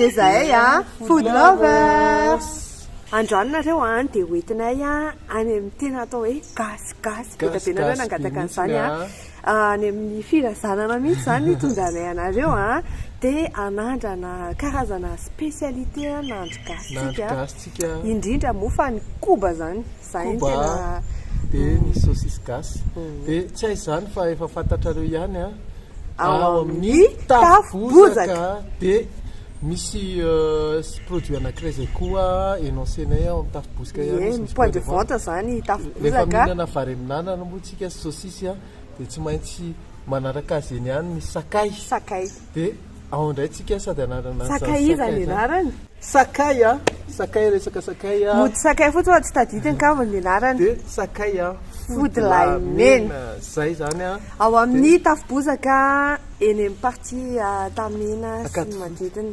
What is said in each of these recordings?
dia zahay a ah, food lovers androany nareo a ah, dia hoentinay a ah, any amin'ny tena atao hoe gasy gasy be da be nareo nangataka an'izany a any amin'ny firazanana mihitsy izany no itondranay anareo a, dia hanandrana karazana spécialité nahandro gasintsika, indrindra moa fa ny koba izany, izay no tena, dia ny saucisse gasy, dia tsy hay izany fa efa fantatrareo ihany a, ao amin'ny tafo bozaka dia misy produit anankiray izay koa énoncé-nay ao amin'ny tafo bozaka ihany izy, misy point de vente, rehefa mihinana vary amin'anana moa isika. Tsika sosisy a dia tsy maintsy manaraka azy eny ihany ny sakay. Sakay. Dia ao indray tsika sady anarana an'izany sakay izany. Sakay izany anarany. Sakay a! Sakay resaka sakay a! Mody sakay fotsiny fa tsy tadidiny angamba ny anarany. Dia sakay a! Fody lahy mena. Izay izany a! Ao amin'ny Tafobozaka eny amin'ny partie Antamena sy ny manodidina.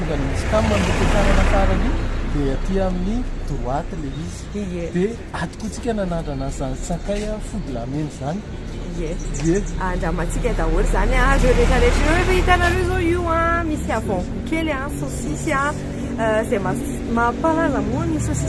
Tonga any misy cam amin'ny fiakarana farany dia aty amin'ny droite ilay izy. Ie. Dia atokontsika nanandrana an'izany sakay fody lamena izany. Ie. Ie. Andramantsika daholo izany an, ireo rehetra rehetra ireo. Efa hitanareo izao io an, misy avant goût kely an, saosisy an, izay mampalaza moa ny saosisy.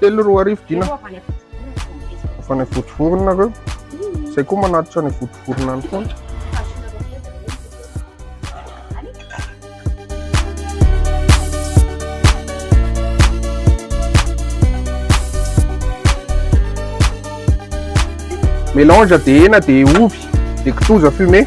Telo roa arivo dina. Fa ny votovorona reo. Zay koa manatitra ny votovorona ny foana. Mélange de hena de ovy de kitoza fumé.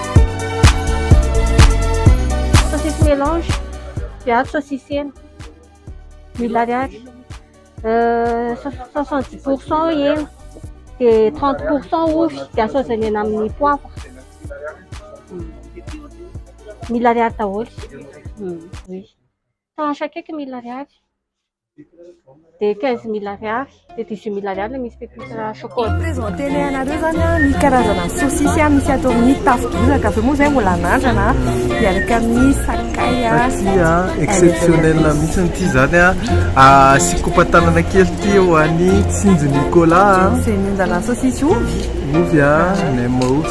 Saucisse mélange, viavy saucisse hena, mille ariary, soixante dix pour cent hena, dia trente pour cent ovy dia asaozany eny amin'ny poivre, mille ariary daholo, oui, tranche akaiky mille ariary. dia quinze mille ariary dia dix huit mille ariary ilay misy pepita chocolat Mipresenter-nay anareo izany an, ny karazana sosisy misy ato amin'ny tafo bozaka, avy eo moa izay mbola anandrana an, miaraka amin'ny sakay an. Ity an, exceptionnel mihitsy ity izany an, asiako kopa-tanana kely ity ho an'i Tsinjo Nicolas an. Izay mihinana sosisy ovy. Ovy an, nem ovy.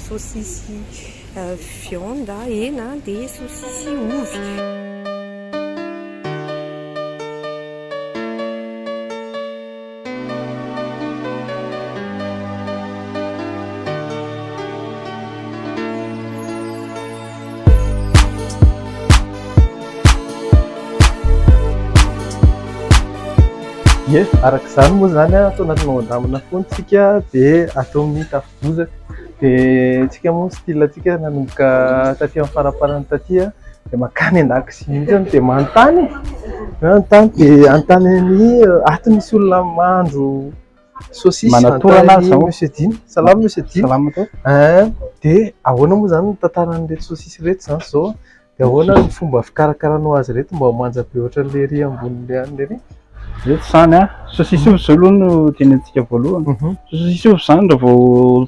Sosisy viande, hena, dia sosisy ovy. Ye, araka izany moa izany an, atao anatinao andamina foana isika dia atao amin'ny tafika. Bozaka dia tsika moa style tsika nanomboka taty amin'ny faraparany taty dia makany an-dakozia mihitsy dia manontany e manontany dia anontany an'i ato misy olona mandro saucisse manatorana azy zao monsieur Dina salama monsieur Dina salama to eh dia ahoana moa izany ny tantaran'ireto saucisse ireto izany izao De ahoana ny fomba fikarakaranao azy ireto mba ho manja be ohatran'ilay ery ambonin'ilay anona ery? Ireto izany an, sosisy ovy izao aloha no tenentsika voalohany, mhm. sosisy ovy izany raha vao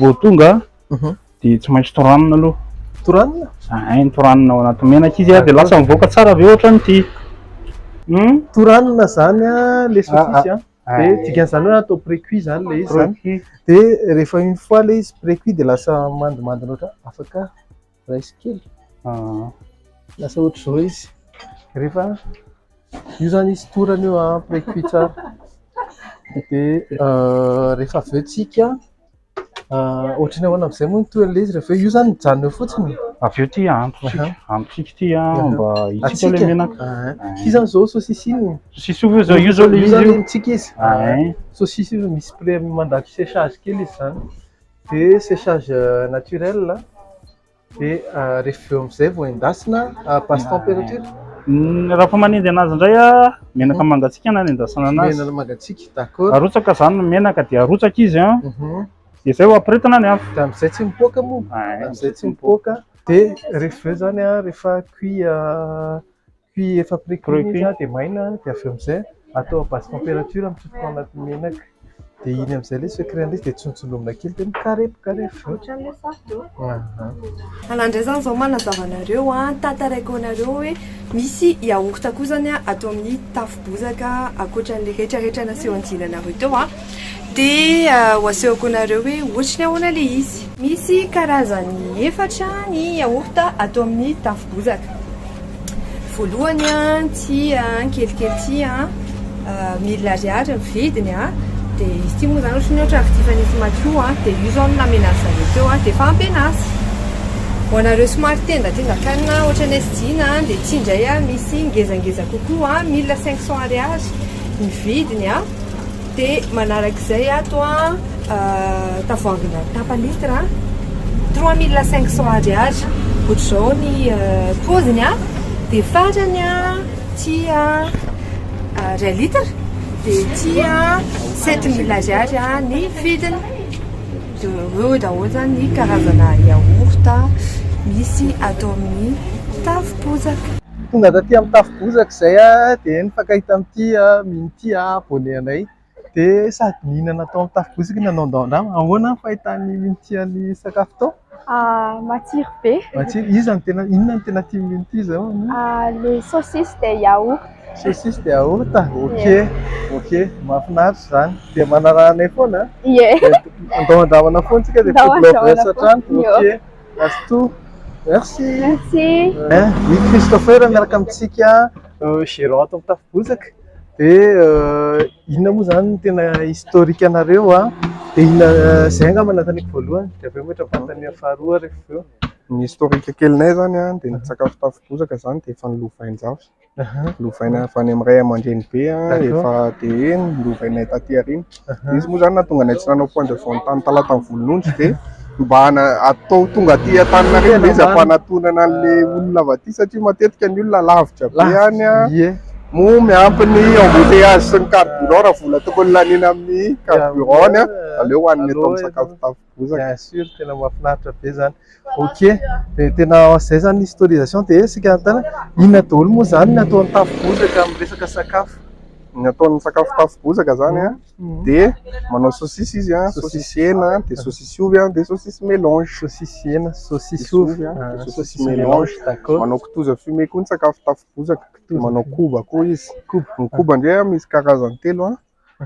vao tonga mhm. dia tsy maintsy toranina aloha. Toranina? Ahay ny toranina ao anaty menaka izy dia lasa mivoaka tsara avy eo ohatran'ity. Hmm? Toranina izany an, le ah, sosisy an. Ah. Dia dikan'izany hoe atao précuit izany le izy izany. Dia rehefa une fois le izy précuit dia lasa mandimandina ohatran'ny afaka. Rice kely. Ah. Lasa ohatr'izao izy. Rehefa io zany izy torana io ah, après cuit tsara. Dia euh, rehefa avy eo tsika ah, ohatrany ahoana amin'izay moa ny toerana ilay izy rehefa io zany mijanona eo fotsiny. Avy eo ty ahantsika, Aha. ahantsika ty ah, Aha. mba hitsika Atsika. ilay menaka. Ah. Ity zany izao saosisy iny. Sosisy ovy zao, io zao le Io izy zany io. ny tsika izy. Ah, eh. Saosisy io misy pre mandalo séchage kely izy zany. dia séchage naturel dia rehefa avy eo amin'izay vao endasina à basse température? Raha fa manendy anazy indray menaka mangatsiaka no anendasana anazy, menaka mangatsiaka d'accord, arotsaka izany ny menaka dia arotsaka izy an, dia izay vao ampirehetina ny afo, dia amin'izay tsy mipoaka moa, amin'izay tsy mipoaka, dia rehefa avy eo izany rehefa cuit Puis efa pre-cuit izy dia maina dia avy eo amin'izay atao à basse température mitsotro tao anaty menaka dia iny amin'izay ilay secret an'ilay izy dia tsinontsinoina kely dia mikarepokarefo. Ohatran'ilay sardo. Ahh. Anah indray izany izao manazava anareo an, tantaraiko anareo hoe misy yaourt koa izany atao amin'ny tafo bozaka ankoatran'ilay retraretra naseho anjinanareo teo an. Dia ho asehoko anareo hoe ohatry ny ahoana ilay izy. Misy karazany efatra ny yaourt atao amin'ny tafo bozaka. Voalohany ity kelikely ity, mille ariary ny vidiny. Dia izy ity moa izany ohatry ny ohatran'ny vidifan'izy madio. Dia io izao no namenazy zareo teo, dia efa ampy anazy. Ho anareo somary tendatendan-kanina ohatry ny anay Dina, dia ity indray misy ngezangeza kokoa, mille cinq cents ariary ny vidiny. Dia manaraka izay ato an, tavoahangina tapa litre an, trois mille cinq cents ariary, ohatr'izao ny paoziny an, dia farany an, ity an, iray litre, dia ity an, sept mille ariary ny vidiny. Dia ireo daholo izany ny karazana yaourt misy ato amin'ny tavom-bozaka. Tonga taty amin'ny tafo bozaka izay aho dia nifankahita tamin'ity Mino ity abone anay dia sady nihinana tao amin'ny tafo bozaka no nanao andrama. Ahoana ny fahitan'i Mino ity sakafo ity? Matsiro be. Matsiro? Iza no tena, inona no tena tian'i Mino ity izao? Le saucisse dia yaourt. Saucisse dia yaourt? Ok, ok, mahafinaritra izany. Dia manaraha anay foana an! Ye! Andao handramana foana isika dia food lovers hatrany. Ok. Azotoa. Merci. Merci. Eh, i Christopher miaraka amintsika gerant ato amin'ny Tafibozaka. Dia inona moa izany no tena historique anareo a? Dia inona izay angamba nanontaniako voalohany, dia avy eo mety manontania faharoa rehefa avy eo. Ny historique kelinay izany a, dia ny sakafo Tafibozaka izany dia efa ny lovain-jafy. Lovaina avy any amin'ny ray aman-dreny be efa dia nolovainay taty aoriana. Izy moa izany nahatonga anay tsy nanao point de vente tamin'ny Talatan'ny Volonondry dia mba hatao tonga aty Antaninarenina izy hampanatonana an'ilay olona avy aty satria matetika ny olona lavitra be any moa miampy ny embouteillages sy ny carburant raha vola tokony laniana amin'ny carburant, aleo hohanina eto amin'ny sakafo tafaky. Bien sur tena mahafinaritra be zany. Ok, dia tena izay zany ny historisation dia isika tena inona daholo moa zany ny ataon'ny tafo bozaka amin'ny resaka sakafo? Ny ataon'ny sakafo tafo bozaka zany an dia manao sosisy izy an, sosisy hena, dia sosisy ovy an, dia sosisy melange. Sosisy hena, sosisy ovy an, sosisy melange. D'accord. Manao kitoza fumé koa ny sakafo tafo bozaka, manao koba koa izy. Koba. Ny koba ndray an misy karazany telo an.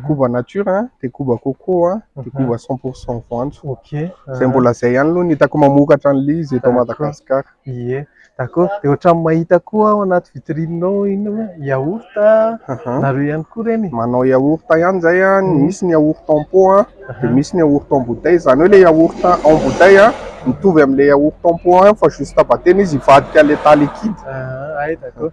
koba nature a, dia koba coco a, dia koba cent pour cent voanjo. Ok. Izay mbola izay ihany aloha no hitako mamokatra an'ilay izy eto Madagasikara. Ie, d'accord. Dia ohatran'ny mahita koa ao anaty vitrine-nao inona moa? Yaourt a, Aha. nareo ihany koa ireny e? Manao yaourt ihany izay a, ny misy ny yaourt en pot a, dia misy ny yaourt en bouteille. Izany hoe ilay yaourt en bouteille a, mitovy amin'ilay yaourt en pot ihany fa juste batena izy hivadika an'ilay tas liquide. Ah, hay, d'accord.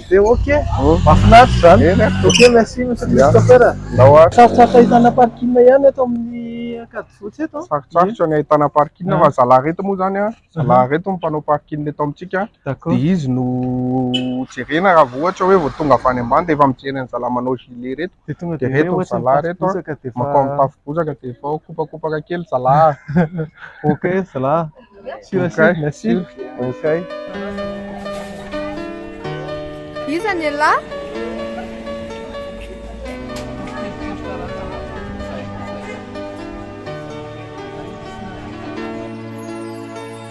Dia ok, mahafinaritra izany. Ok, merci Monsieur Christopher. Sarotra ahitana parking ihany eto amin'ny Ankadifotsy eto. Sarotsarotra ny ahitana parking fa zalahy ireto moa izany, zalahy ireto no mpanao parking eto amintsika dia izy no jerena raha vao ohatra hoe vao tonga avy any ambany dia efa mijery an'zalahy manao gilet ireto. Dia tonga dia hoe ohatra ny tafo bozaka dia efa... Makao amin'ny tafo bozaka dia efa ao, kopakopaka kely zalahy. Okay zalahy. Sur et sur, merci. Okay. Iza ny elah?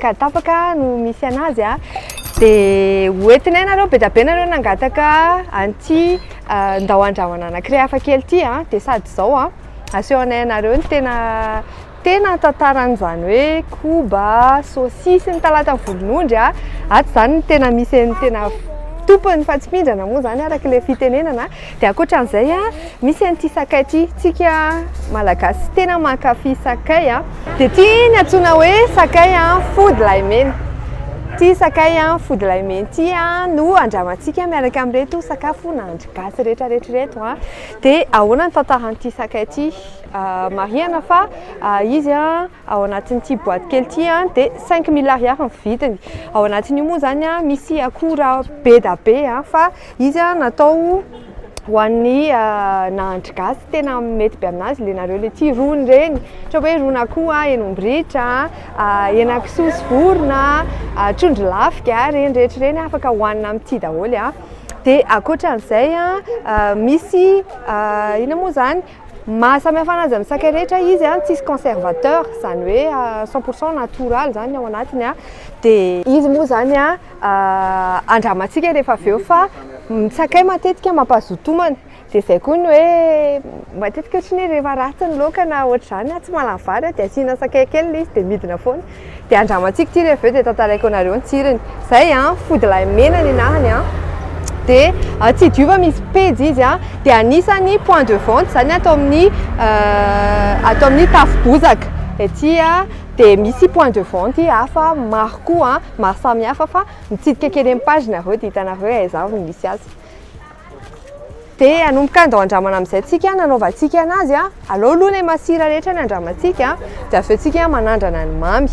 Ka tapaka no misy anazy a. Dia hoentinay nareo be dia be nareo nangataka an'ity ndao handrahoana anankiray hafa kely ity a. Dia sady izao a, asehonay anareo ny tena tena tantaran'izany hoe koba, saosisy, ny talata volonondry a. Ato izany no tena misy an'ny tena tompony fa tsy mindrana moa izany araka ilay fitenenana. Dia ankoatran'izay a, misy an'ity sakay ity, tsika Malagasy tena mankafy sakay a. Dia ity ny antsoina hoe sakay a fody lahimena. Ity sakay a fody lahimena ity a no andramantsika miaraka amin'ireto sakafo nahandro gasy rehetra rehetra ireto a. Dia ahoana ny tantaran'ity sakay ity? Marihana fa izy a. ao anatin'ity boaty kely ity dia cinq mille ariary ny vidiny, ao anatin'io moa izany misy akora be dia be fa izy natao ho an'ny nahandry gasy tena mety be amin'azy ilay nareo ilay ity rony ireny ohatra hoe rony akoho a, hen'ombritra a, henakisoa sy vorona a, trondro lafika a, ireny rehetra ireny afaka hohanina amin'ity daholo dia ankoatra an'izay misy inona moa izany Ny maha samy hafa an'azy amin'ny sakay rehetra izy an, tsisy conservateur, izany hoe cent pour cent natoraly izany ny ao anatiny an, dia izy moa izany an andramantsika rehefa avy eo fa ny sakay matetika mampazoto homana, dia izay koa ny hoe matetika ohatry ny hoe rehefa ratsy ny laoka na ohatr'izany an, tsy mahalany vary an, dia asiana sakay kely ilay izy dia midina foana. Dia andramantsika ity rehefa avy eo dia tantaraiko anareo ny tsiriny. Zay an, fody lahy mena ny anarany an. Dia tsy diova misy pejy izy an. Dia anisany point de vente zany ato amin'ny ato amin'ny tafo bozaka ety an. Dia misy point de vente hafa maro koa an, maro samihafa fa mitsidika kely ny page nareo dia hitanareo hoe aiza avy no misy azy. Dia hanomboka handao andramana amin'izay tsika nanaovantsika anazy a, alao aloha ilay masira rehetra ny andramantsika dia avy eo tsika manandrana ny mamy.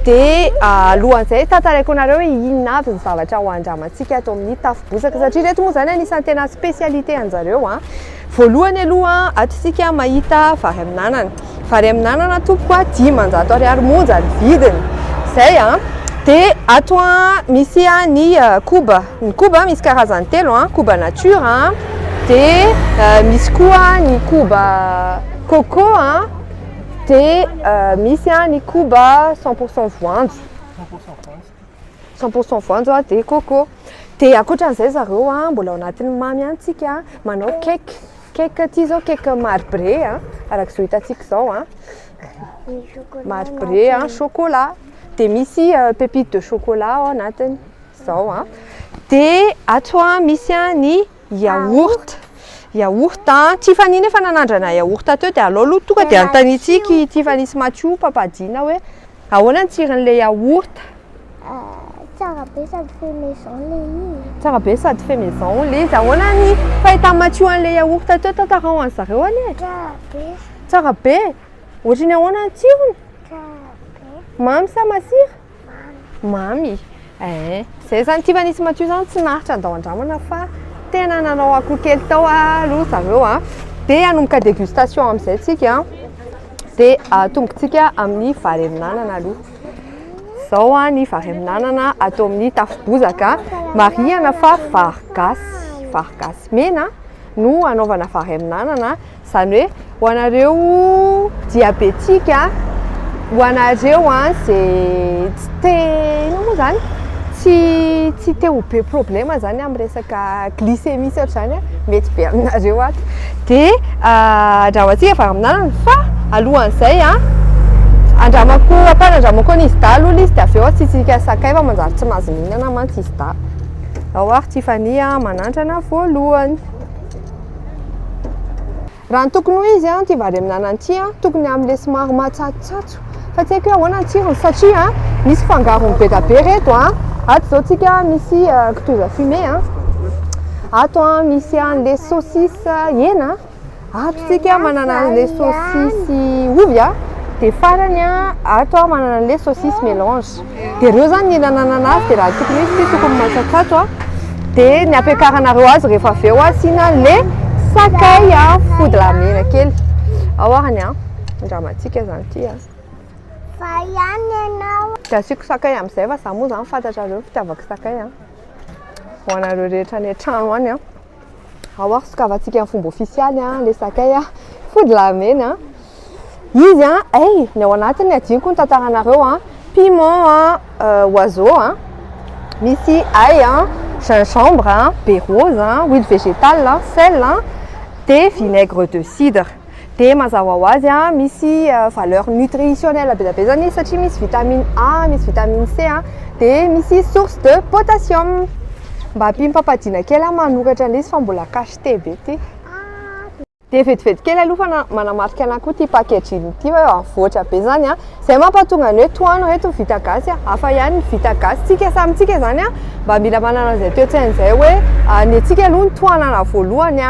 Dia alohan'izay tantaraiko anareo hoe inona avy ny zavatra ho andramantsika ato amin'ny tafo bozaka satria ireto moa izany anisan'ny tena spécialité anjareo a. Voalohany aloha ato isika mahita vary amin'anana. vary amin'anana tompoko a, dimanjato ariary monja ny vidiny, zay a, dia ato a misy a ny koba, ny koba misy karazany telo a, koba nature a, dia misy koa ny koba coco a, dia misy a ny koba cent pour cent voanjo, cent pour cent voanjo a dia coco, dia ankoatra an'izay zareo a mbola ao anatin'ny mamy ihany tsika manao cake. Cake aty izao cake marbré a, araka izao hitantsika izao a. Marbré a, chocolat. Dia misy euh, pépite de chocolat ao anatiny. Izao a. Dia ato a misy a ny yaourt. Yaourt a. Tiffany nefa nanandrana yaourt teo dia alao aloha tonga dia anontanitsika i Tiffany sy Mathiou, papadina hoe Ahoana ny tsirin'ilay yaourt? Tsara be sady fait maison ilay izy. Tsara be sady fait maison ilay izy. Ahoana ny fahitan'i Matio an'ilay yaourt teo? Tantarao an'i zareo anie. Tsara be. Tsara be. Ohatry ny ahoana ny tsirony? Tsara be. Mamy sa masira? Mamy. Mamy. Eeh. Zay zany kivy an'Isy Matio zany tsy naharitra handao andramana fa tena nanao akoho kely tao aloha zareo a. Dia hanomboka dégustation amin'izay tsika dia atombokantsika amin'ny vary amin'anana aloha. Izao a ny vary amin'anana atao amin'ny tafo bozaka, marihana fa vary gasy, vary gasy mena no hanaovana vary amin'anana. Izany hoe ho anareo diabetika, ho anareo izay tsy te, inona moa izany? tsy tsy te ho be problème izany amin'ny resaka glycémie sy ohatr'izany an, mety be aminareo ato. Dia andramantsika varamanana fa alohan'izay an, andramako, ampahany andramako an'izy dahy aloha ilay izy dia avy eo asiantsika sakay fa manjary tsy mahazo mihinana mantsy izy dahy. Ao ary Tiffany manandrana voalohany. Raha ny tokony ho izy ity vary amin'ny anana ity dia tokony amin'ny lesy maro matsatsotsatso fa tsy haiko hoe ahoana ny tsirony satria misy fangarony be dia be ry reto an! Ato izao tsika misy kitoza fumée an! Ato an misy an lesy saucisse hena an! Ato tsika manana ny lesy saucisse ovy an! Dia farany an ato an manana ny lesy saucisse mélange. Dia ireo izany ny nananana azy dia raha tokony hisy tokony matsatsato a, dia ny hampiakaranareo azy rehefa avy eo asiana le sakay a, fodila mena kely ao ary ny an, raha matsika izany ity a. Fa ihany ianao. Dia asiako sakay amin'izay fa za moa izany fantatrareo ny fitiavako sakay a, ho anareo rehetra any an-trano any a. Ao ary sokavantsika amin'ny fomba ofisialy an, le sakay an, fody laramena an, izy an, hey, ny ao anatiny adinoko ny tantaranareo an, piment an, oiseau an, misy ail an, gingembre an, be rose an, huile végétale an, sel an, dia vinaigre de cidre. Dia mazava ho azy an, misy valeur nutritionnelle be dia be izany izy satria misy vitamine A, misy vitamine C an, dia misy source de potassium. Mba ampiam-pampadiana kely aho manoratra an'ilay izy fa mbola cacheté be ity. Dia vetivety kely aloha fa manamarika anà koa ity packaging ity hoe avoatra be izany an. Zay mampatonga ny hoe tohano reto ny vita gasy a! Hafa ihany ny vita gasy. Tsika samy tsika zany a mba mila manana an'izay toe-tsaina zay hoe ny antsika aloha no tohanana voalohany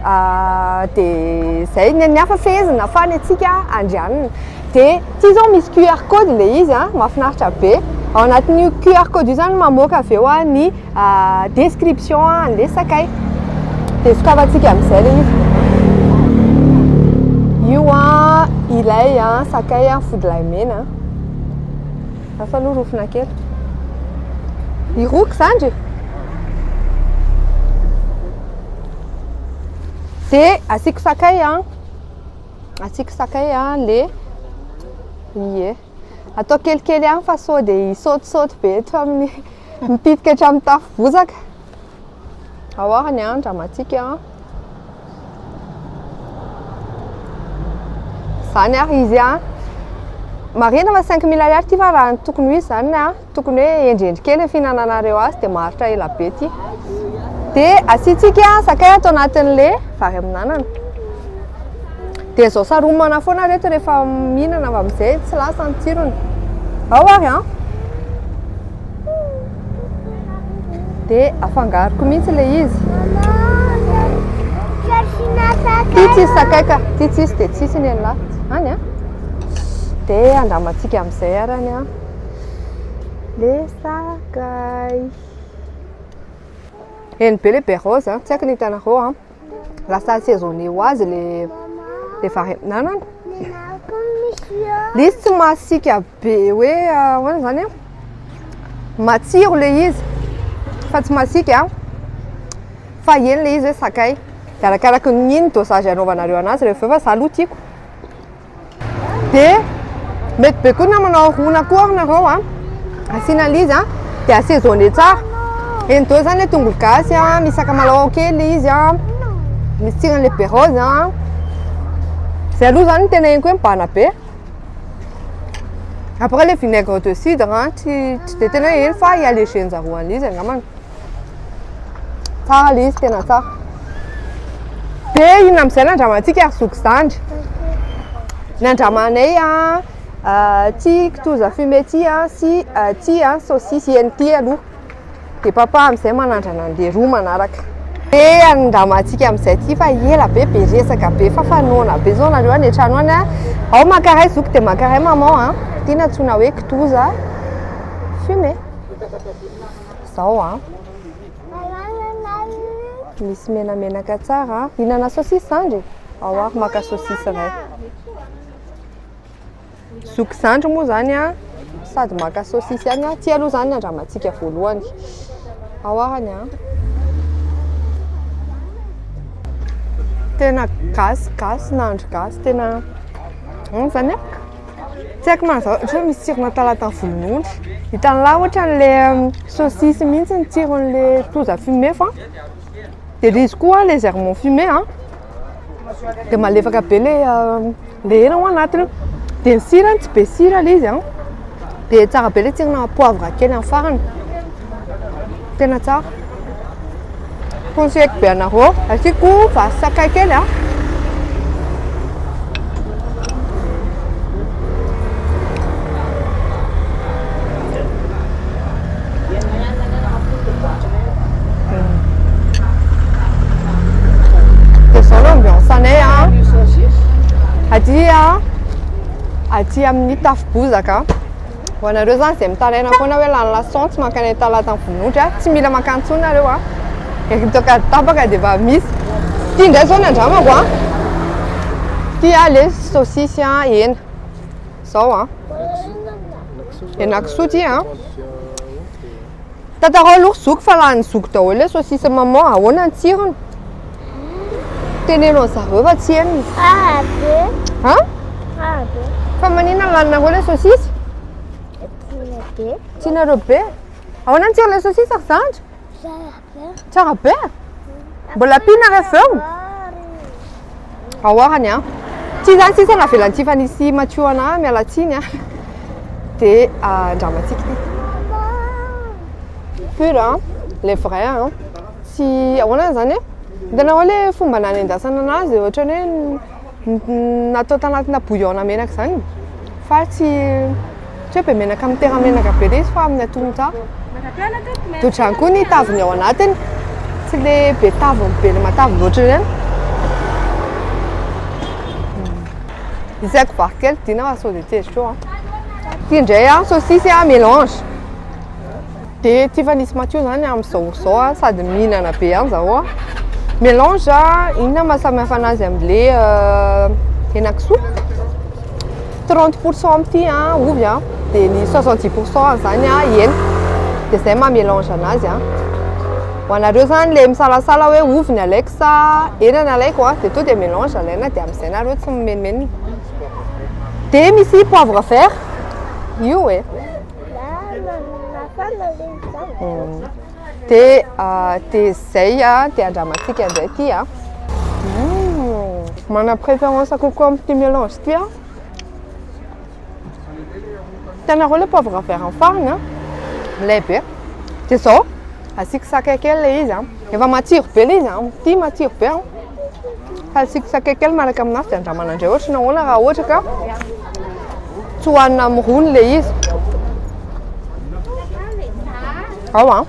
a de zay, ny an'ny hafa fehezina fa ny antsika andrianina. De ty zao misy QR code le izy a, mahafinaritra be. Ao anatin'io QR code io zany mamoaka avy eo ny Ah, description ah, andeha sakay. Dia sokafantsika amin'izay ilay izy. Io ah, ilay ah, sakay ah, fodilay mena ah. Hafa aloha rofina kely. Iroky zandry. Dia asiako sakay ah. Asiako sakay ah, le, ie. Atao kelikely ihany fa sao dia hisaotisaoty be eto amin'ny mipitika hatramin'ny tafo bozaka. Ahoana ny an, dramatique an. Zany ary izy an. Marina fa 5000 ariary ity fa raha ny tokony ho izy zany an. tokony hoe hendrendry kely ny fihinananareo azy dia maharitra ela be ity dia asiantsika sakay ato anatin'le vary amin'anana dia zao saromana foana reto rehefa mihinana avy amin'izay tsy lasa ny tsirony ao ary an dia afangaroko mihitsy le izy ty tsisy sakay ka ty tsisy dia tsisy ny an'la any an dia andramantsika amin'izay arany an Le sakay. Eny be le berôzy a, tsy haiko ny hitanareo a. Lasa assaisonné ho azy le le vary amin'anana. Le izy tsy masiaka be hoe ahoana izany a, matsiro le izy fa tsy masiaka a, fa eny le izy hoe sakay. Arakaraka ny dosage anaovanareo an'azy rehefa avy eo fa za aloha tiako. Dia mety be koa na manao rona koa ary nareo a. Asiana l'izy a, dia assaisonner tsara. Eny deo zany le tongolo gasy a, misy sakamalao kely izy a, misy tsirany le be rose a. Zay aloha zany tena henoko hoe mibahana be. Après le vinaigre de cidre a, tsy tsy dia tena hoe heno fa i alléger-njareo an'izy angambany. Tsara ilay izy, tena tsara. Dia inona amin'izay no andramantsika ry zoky zandry? Ny andramanay an, ity kitoza fumée ity an, sy ity an, saosisy hena ity aloha. Dia papa amin'izay manandrana an'ilay roa manaraka. Dia andramantsika amin'izay ity fa ela be be resaka be fa fanaona be izao nareo any an-trano any an. Ao mankaray zoky dia mankaray maman an. Ity no antsoina hoe kitoza fumée. Zao an. Misy menamenaka tsara an. Hinana saucisse zandry? Ao ary maka saucisse ray. Zoky zandry moa zany an. Sady maka saucisse ihany an. Ty aloha zany andramantsika voalohany. Ao arany an. Tena gasy gasy nahandro gasy tena. Zany an. Tsy haiko na izao ohatran'ny misy tsirona talatan'ny volon'ondry. Hitan'lah ohatran'ilay um, saucisse mihitsy ny tsiron'ilay kitoza fumé fa dia ilay izy koa légèrement fumé an, dia malefaka be ilay um, ilay hena ao anatiny. Dia ny sirany tsy be sira ilay izy an, dia tsara be ilay tsirona poivre kely amin'ny farany. Tena tsara. Conseilleko be anareo. Asiako vary sakay kely a. aty amin'ny tafo-bozaka. Ho anareo izany izay mitaraina foana hoe lany lason tsy mankany amin'ny talata ny vonon'ondry a, tsy mila mankany intsony nareo a! Eto Ankady tapaka dia efa misy. Ity indray izao ny andramako a! Ity a le saosisy a, hena. Izao a! Henakisoa ity a! Tantarao aloha ry zoky fa lanin'ny zoky daholo ilay saucisse maman, ahoana ny tsirony? Teneno an'zareo fa tsy henony. Tsara be. Ha? Tsara be. Fa maninona laninareo ilay saucisse? Tiana be. Tianareo be? Ahoana ny tsiron'ilay saucisse ry zandry? Tsara. Tsara be e! Mbola ampiana ary avy eo. Ahoarany an. Tsy izany sisa navelantsika fa nisy matio ana miala tsiny an. Dia andramantsika ity. Pur an, le vrai an. Tsy ahoana izany e? Hitanareo le fomba nanendasana anazy ohatran'ny hoe. Natao tanatina bouillon menaka izany fa tsy tsy hoe be menaka mitera menaka be ilay izy fa amin'ny atolotra dodrany koa ny taviny ao anatiny tsy le be taviny be le matavy loatra ireny isaiko vary kely dina fa sao dia tsy ezitro an ity indray an saosisy an melange Dia ity efa nisy matio zany amin'izao izao a, sady mihinana be an zaho a. Mélange inona maha samy hafa anazy amin'le henakisoa? 30 pour cent amin'ity a ovy a, dia ny 70 pour cent an'izany a hena. Dia izay maha mélange anazy a. Ho anareo zany le misalasala hoe ovy ny alaiko sa hena ny alaiko a, dia tonga dia mélange alaina dia amin'izay nareo tsy mimenomenona. Dia misy poivre vert, io e. Te te zay te andramantsika ndray ty a. Mana préférence kokoa amin'ity mélange ity aho. Hitanareo le poivre vert ny farany a. Milay be. Dia zao asiako sakay kely le izy a. Efa matsiro be le izy a. Ity matsiro be a. Hasiako sakay kely miaraka amin'azy dia andramana indray ohatry ny ahoana raha ohatra ka tsy hohanina amin'ny rony ilay izy. Ao an.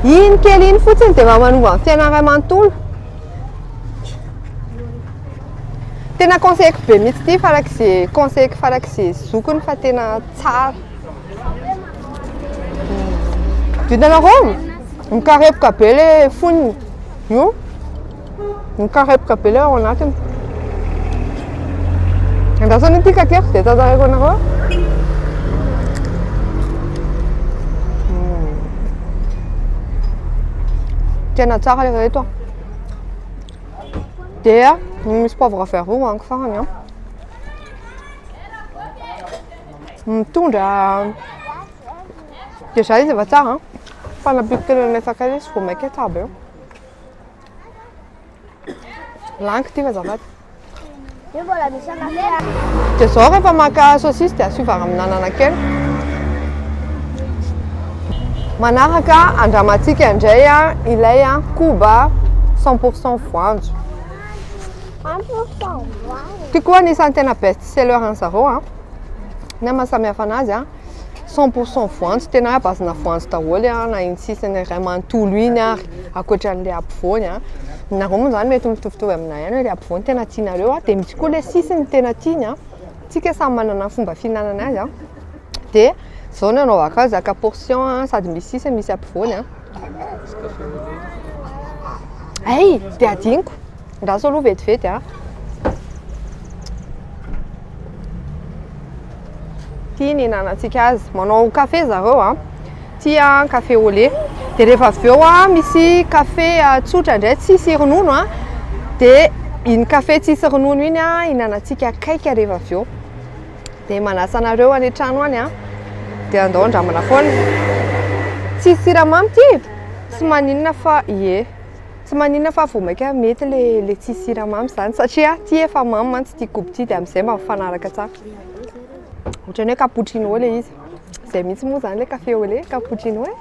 Iny kely iny fotsiny dia mba manova ny fiainana iray manontolo. Tena conseilleko be mihitsy ity farak'izay conseilleko farak'izay zokiny fa tena tsara. Vitanareo? Mikarepoka be le fonony. Io. Mikarepoka be le ao anatiny. Andrasana ity kakeriko dia tantareko anareo. Hmm. Tena tsara le reto. Dia misy poivre vert roa hoaniko farany an. Mitondra dia zay izy efa tsara fa nampiako telo amin'ilay sakay izy vao mainka tsara be. Lany k'ity azafady. Io mbola misy an'aty. Dia zao rehefa maka saucisse dia asiova raminanana kely. Manaraka andramantsika indray ilay koba cent pour cent voanjo. Ity koa anisan'ny tena best seller-n'ny zareo. Ny ahy mahasamihafa anazy an, cent pour cent voanjo tena à base-na voanjo daholo an, na iny sisiny iray manontolo iny ary ankoatran'ilay ampovoany an, nareo moa izany mety mitovitovy aminay ihany hoe ilay ampovoany tena tianareo an, dia misy koa ilay sisiny tena tiany an, isika samy manana ny fomba fihinanana azy an, dia izao ny anaovako azy, zaka portion an, sady misy sisiny misy ampovoany an, hay! dia adinoko. Andraso aloha vetivety a. Ity ny nanantsika azy. Manao kafe zareo a. Ity a, kafe au lait. Dia rehefa avy eo a, misy kafe tsotra indray tsisy ronono a. Dia iny kafe tsisy ronono iny a, hinanantsika cake rehefa avy eo. Dia manasa anareo any an-trano any a. Dia andao handramana foana. Tsisy siramamy ity? Tsy maninona fa ie. Tsy maninona fa vao maika mety le le tsisy siramamy izany satria ty efa mamy mantsy ty kobo ty dia amin'izay mba mifanaraka tsara. Ohatran'ny hoe cappuccino le izy. Izay mihitsy moa izany le café au lait, cappuccino e.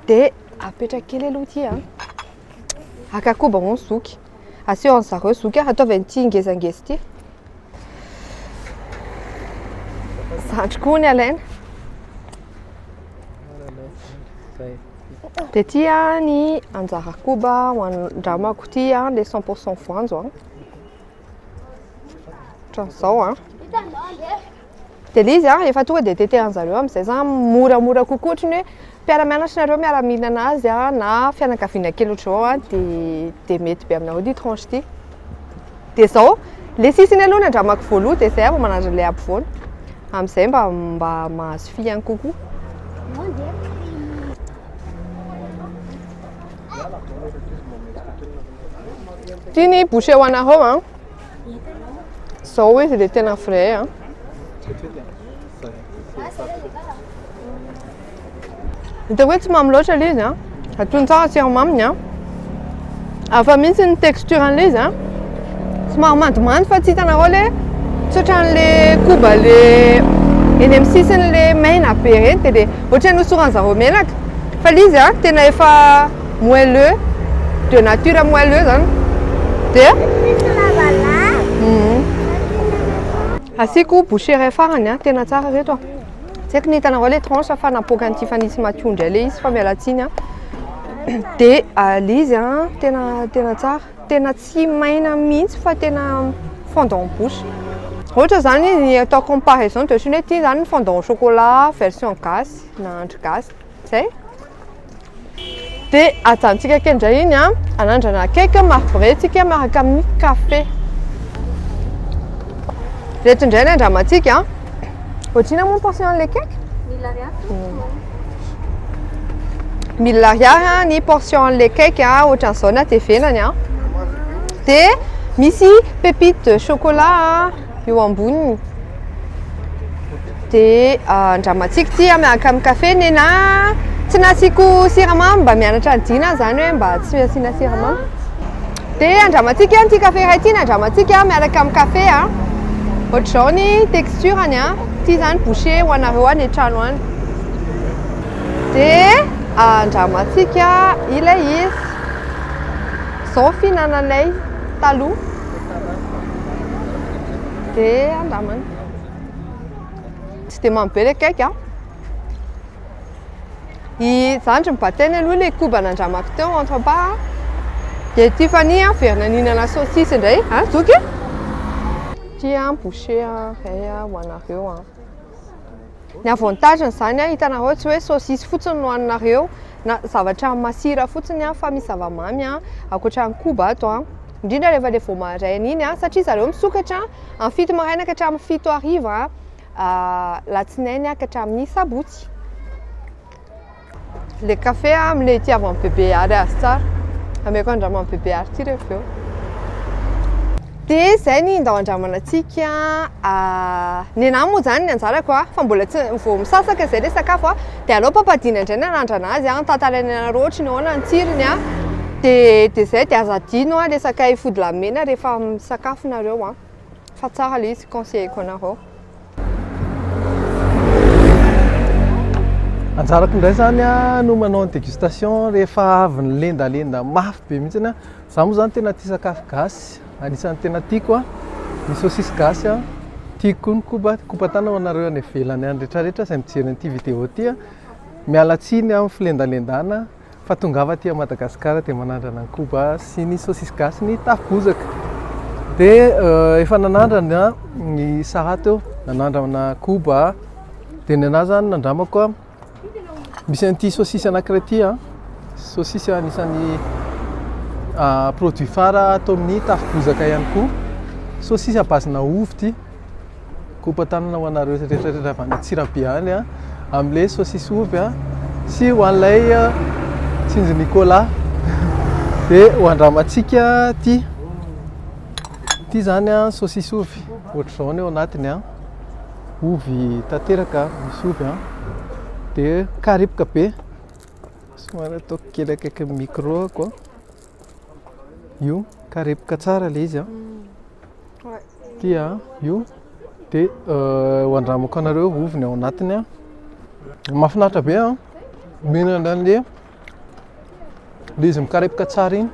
Dia apetraka kely aloha ty a. Haka koba moa ny zoky. Asio an'i zareo zoky a, ataovy an'ity ngezangeza ity. Zandriko hono ny alaina. Dia ity ny anjara koba ho an-dramako ity ilay cent pour cent voanjo an. Ohatran'izao an. Dia ilay izy an, efa tonga dia tetehan'zareo amin'izay zany moramora kokoa ohatry ny hoe mpiara-mianatra nareo miara-mihinana azy an, na fianakaviana kely ohatran'izao an, dia dia mety be aminareo ity tranche ity. dia izao ilay sisiny aloha ny andramako voaloha dia izay aho vao manandrana ilay ampovoany amin'izay mba mba mahazo fihany kokoa ity ny boucher ho anareo an izao izy ilay tena vrai an Hitako hoe tsy mamy loatra ilay izy a. Atony tsara siramaminy a. Hafa mihitsy ny texture an'ilay izy a. Somary mandomando fa tsy hitanareo ilay tsy ohatran'ilay koba le eny amin'ny sisiny le maina be ireny dia dia ohatran'ny hosoran'ny zareo menaka. Fa ilay izy a tena efa moelleux de nature moelleux izany. Dia asiako bouchée iray farany a, tena tsara ireto a. tsy haiko ny hitanareo ilay tranche fa napoaka an'i Tiffany sy Mathiou indray ilay izy fa miala tsiny an dia ah, ilay izy an tena tena tsara tena tsy maina mihitsy fa tena fondant bouche ohatra izany ny atao comparaison dia ohatran'ny hoe ity izany ny fondant au chocolat version gasy na andry gasy Zay. Dia ajanontsika kely indray iny an, anandrana cake marbretsika miaraka amin'ny café. Ireto indray ny andramantsika an. Ohatrina moa ny portion an'ilay cake? Mille ariary. Mille ariary ny portion an'ilay cake an, ohatran'izao na dia venany an. Dia misy pépite de chocolat an. eo amboniny dia ah, andramantsiko tia miaraka amin'ny kafe ny na tsy nasiako siramamy mba mianatra ny dina izany hoe mba tsy asiana siramamy dia andramantsika ihany ity kafe iray ity ny andramantsika miaraka amin'ny kafe a ohatr'izao ny texture-ny a ity izany boucher ho anareo any an-trano any dia andramantsika ilay izy izao ny fihinananay taloha Be andamany. Tsy dia mamy be ilay cake an. I zandry ny batainy aloha ilay koba nandramako teo entre pas an. Dia Tiffany an, verina nihinana saucisse indray. An, zoky? Tia an, boucher an, ray an, ho anareo an. Ny avantage n'izany an, hitanareo tsy hoe saucisse fotsiny no haninareo na zavatra masira fotsiny an, fa misy zava-mamy an, ankoatra ny koba ato an, indrindra rehefa ilay vao maraina iny an, satria zareo misokatra an, amin'ny fito maraina ka hatramin'ny fito hariva an, alatsinainy ka hatramin'ny sabotsy. Le café a amle itiavan'i bebe Ary azy tsara. Ameko andraman'i bebe Ary ty rehefa eo. Dia izay ny ndao andramanantsika. Ah, ny anah moa izany ny anjarako a, fa mbola tsy vao misasaka izay le sakafo a, dia aleo papadina indray ny anandrana azy a, tantaraina anareo ohatry ny ahoana ny tsirony a, dia dia izay, dia aza adino a le sakay fody lahy mena rehefa misakafo nareo a, fa tsara le izy conseiller-ko anareo. Anjarako indray zany a no manao ny dégustation rehefa avy nilendalenda mafy be mihitsy a. Za moa zany tena tia sakafo gasy, anisan'ny tena tiako a, ny saucisse gasy a, tiako koa ny koba, koba tana ho anareo any ivelany any retraretra izay mijery an'ity vidéo ty a. Miala tsiny amin'ny filendalendana. fa tongava aty Madagascar dia manandrana ny koba sy ny saucisse gasy ny tafo bozaka dia efa nanandrana ny sahat eo nanandrana koba dia ny anah zany nandramako misy an'ity saucisse anankiray ity a saucisse anisan'ny produit phare atao amin'ny tafo bozaka ihany koa saucisse à base-na ovy ity Kopa tanana ho anareo rehetra rehetra avy any Antsirabe any a, amin'ilay saosisy ovy a, sy ho an'ilay Tsinjo Nicolas. Dia ho andramantsika ity. Ity izany a, saosisy ovy. Ohatr'izao ny ao anatiny a. Ovy tanteraka, misy ovy a. Dia karipoka be. Somary ataoko kely akaikin'ny micro-ko. io karepoka tsara ilay izy a dia io dia euh, ho andramako anareo ovy ny ao anatiny a mafinaritra be a mihinana an'le le izy mikarepoka tsara iny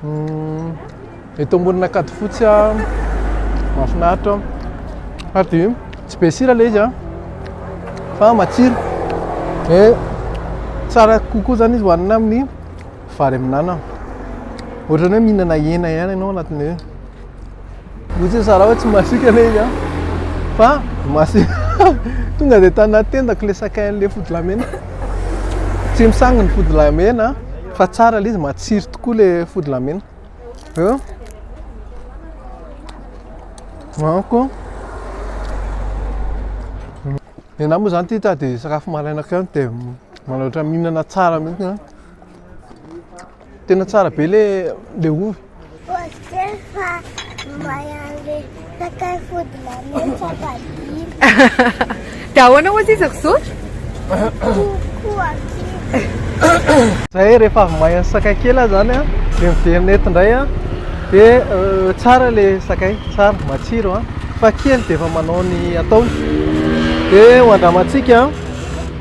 hmm, eto ambonina kady fotsy a mafinaritra ary dia tsy be sira ilay izy a fa matsiro e eh, tsara kokoa zany izy hohanina amin'ny vary amin'anana. Ohatrany hoe mihinana hena ihany ianao anatin'ny hoe Ohatry ny Sarah hoe tsy masiaka ilay izy an. Fa masiaka. Tonga dia tana tendako ilay sakay an'ilay fodilahimena. Tsy misangy ny fodilahimena fa tsara ilay izy, matsiro tokoa ilay fodilahimena. Eo. Manko. Ny ahy moa izany tia dia sakafo maraina kely dia manao ohatran'ny mihinana tsara mihitsy. Tena tsara be le le ovy. Dia ahoana ozy izy ry zoky? Zay rehefa avy may an'ny sakay kely aho zany an, dia miverina eto indray an, dia euh, tsara le sakay, tsara, matsiro an, fa kely dia efa manao ny ataony. Dia ho andramantsika an.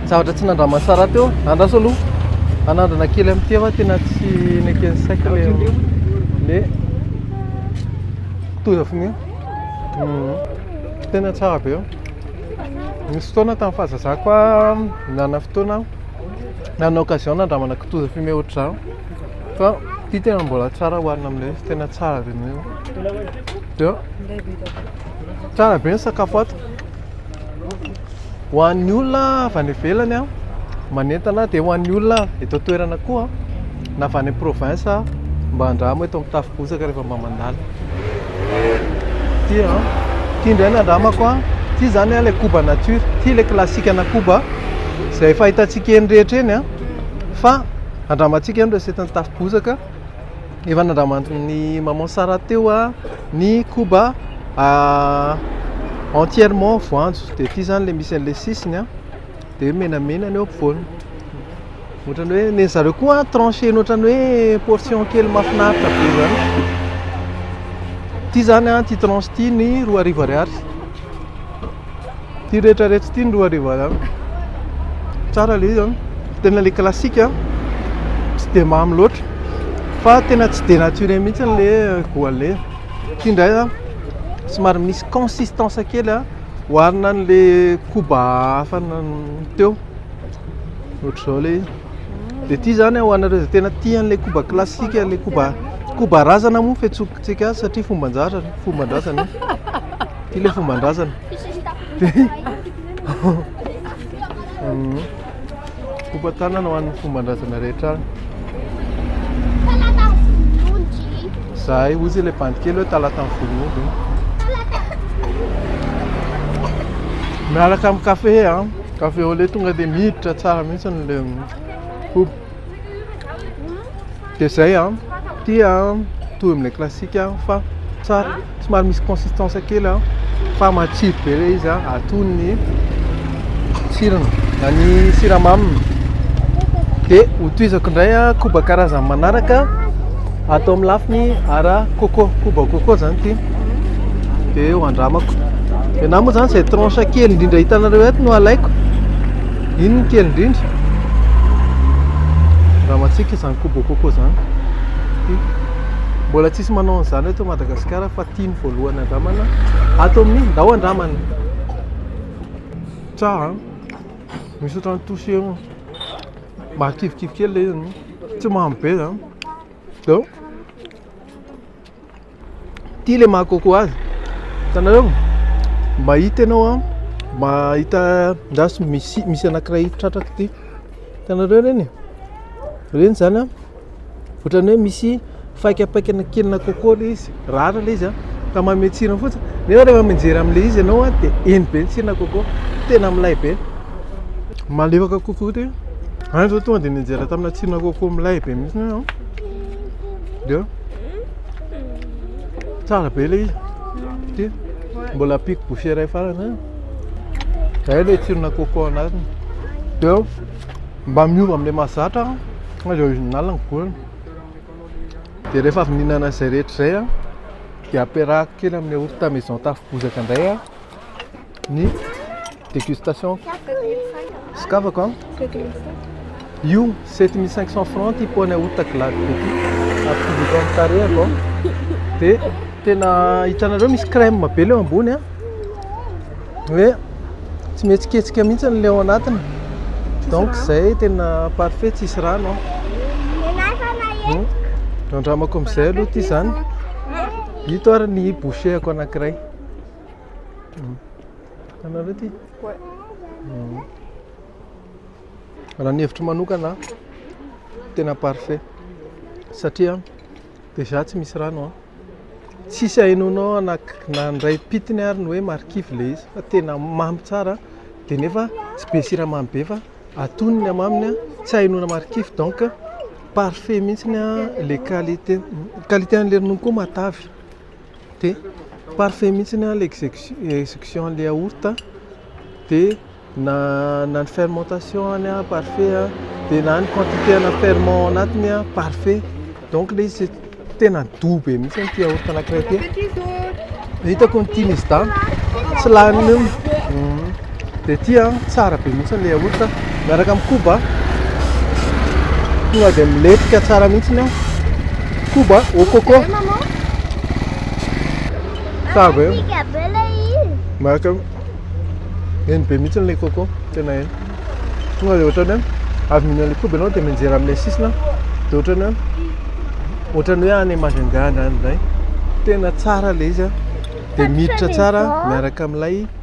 Zavatra tsy nandraman'i Sarah teo. Andraso aloha hanandrana kely amin'ity aho fa tena tsy neken'ny saiko le le kitoza fogna io. Mhm. Tena tsara be io. Nisy fotoana tamin'ny fahazazako aho nanana fotoana aho nanana occasion nandramana kitoza fumée ohatr'izany fa ity tena mbola tsara hohanina amin'ilay izy, tena tsara be mihitsy. Dia tsara be ny sakafo ato. Ho an'ny olona avy any ivelany a, manentana dia ho an'ny olona eto an-toerana koa na avy any province mba andramo eto amin'ny tafo bozaka rehefa mba mandalo. Ity a, ity indray no andramako a, ity izany a ilay koba nature, ity ilay classique-na koba izay fahitantsika eny rehetra eny a, fa andramantsika ny recette-n'ny tafo bozaka. Efa nandraman'ny maman Sarah teo ny koba entièrement voanjo, dia ity zany le misy an'le sisiny dia hoe menamena ny eo ampovoany, ohatrany hoe nen'ny zareo koa trancher-ny ohatrany hoe portion kely mahafinaritra be zany, ity zany ity tranche ity ny roa arivo ariary. Ity rehetra rehetra ity ny roa arivo ariary. Tsara le izy an. Tena le classique an. Tsy dia mamy loatra. Fa tena tsy dia naturel mihitsy le goalle. Ity indray an. Somary misy consistance kely an. Oharina an'le koba hafa teo. Ohatr'izao le izy. Dia ity izany ho anareo izay tena tia an'ilay koba classique, ilay koba koba razana moa fiantsoantsika azy satria fomban-drazana, fomban-drazana. Ty le fomban-drazana. Kopa tanana ho an'ny fomban-drazana rehetra any. Zahay ozy ilay bandikely hoe talatan'ny volon'omby. Miaraka amin'ny kafe an, kafe au lait tonga dia miditra tsara mihitsy ny le koba. de zay an tia mitovy amle classique fa tsara somary misy consistance kely an fa matsiro be le izy an atony ny tsirony na ny siramaminy de hotohizako indray an koba karazany manaraka atao amin'ny lafiny ara coco koba coco zany ity de ho andramako de na moa zany zay tranche kely indrindra hitanareo eto no alaiko Iny ny kely indrindra. Raha matsika izany kobo coco izany. Mbola tsisy manao an'izany eto Madagasikara fa ity ny voalohany andramana. Ato amin'ny ndao andramana. Tsara. Misy ohatran'ny touché mahakivikivy kely ilay izy. Tsy mamy be izany. Dia Ity le maha coco azy. Hitanareo? Mahita ianao an, mahita andraso misy misy anankiray tratraka ity. Hitanareo ireny? Ireny zany an, ohatran'ny hoe misy faikapaikana kelina coco le izy, rara le izy an, ka manome tsirony fotsiny. Nefa rehefa mijery an'le izy ianao an dia eny be ny tsirona coco, tena milay be. Malefaka coco ity. Any zao tonga dia nianjera tamina tsirona coco milay be mihitsy aho. Dia tsara be ilay izy. Ity mbola ampiako bouchée iray farany. Izay ilay tsirona coco anatiny. Dia mba miova amin'ilay mahazatra ilay original ny goût-ny. Dia rehefa avy nihinana izay rehetra izay dia ampiarahako kely amin'ilay yaourt maison Tafy Bozaka indray. Ny dégustation sokafako an. Io 7500 francs ity poane aout ta glade be ity ampidiko amin'ny tarehako dia tena hitanareo misy crème be leo ambony an. Hoe tsy mihetsiketsika mihitsy ny leo anatiny donc izay tena parfait tsisy rano an. Hmm. Andramako amin'izay aloha ity izany. Ito ary ny bouchée-ako anankiray. Hitanareo ity? Raha ny hevitro manokana tena parfait satria déjà tsy misy rano an. Tsisy hainonao na ndray pitiny ary ny hoe marikivy le izy fa tena mamy tsara de nefa tsy be siramamy be fa atonony am aminy an tsy hainona marikivy donc parfait mihitsy ny le qualité. Qualité anle ronono koa matavy. Dia parfait mihitsy an le execution anle yaourt a, dia na ny fermentation any a parfait a, dia na ny quantité ana ferment ao anatiny a parfait, donc le izy tena doux be mihitsy ity yaourt anakiray ity, hitako ny tian'izy dahy tsy lany io. Dia ity an, tsara be mihitsy ilay yaourt an, miaraka amin'ny koba. Tonga dia milentika tsara mihitsy ny koba au coco. Tsara be. Miaraka eny be mihitsy ilay coco, tena eny. Tonga dia ohatran'ny hoe avy mihinana ilay koba ianao dia mianjera amin'ilay sisiny an, dia ohatran'ny hoe ohatran'ny hoe any Majunga any indray. Tena tsara ilay izy an, dia miditra tsara miaraka amin'ilay.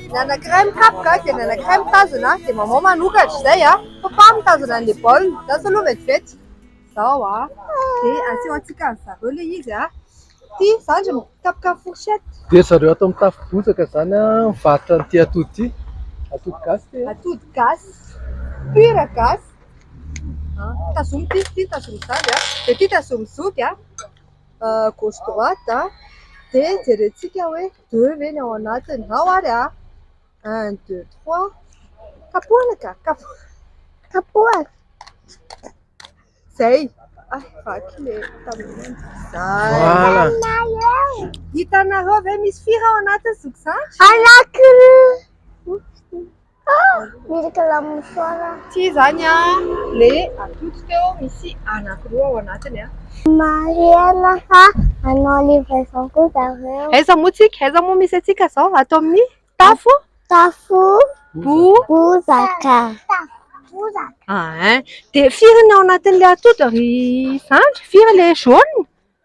Ny anankiray mikapoka dia ny anankiray mitazona dia maman manokatra izay a! Papa mitazona an'ilay baolina, za zao aloha vetivety, izao a! dia aseho antsika ry zareo ilay izy a! ity zandry mikapoka fourchette, dia ry zareo ato amin'ny tafo bozaka izany a! mivarotra an'ity atody ity, atody gasy ity e! atody gasy, pur gasy a! tazomy ity, ity tazomy izany a! dia ity tazomy zoky a! gauche droite a! dia jerentsika hoe. deux ve ny ao anatiny? Ao ary a! un, deux, trois, kapohina ka! kapohina! izay! hay vaky le tableau izay! hitanareo ve misy firy ao anatiny zoky zandry? Ah, ny rekilamin'ny foara. Tsy izany an, le atody teo misy anankiroa ao anatiny an. Marihana fa manao livraison koa zareo. Aiza moa tsika, aiza moa misy antsika zao, ato amin'ny tafo? Tafo bozaka. Ahin, dia firy ny ao anatin'ilay atody ry zandry, firy ilay jaune?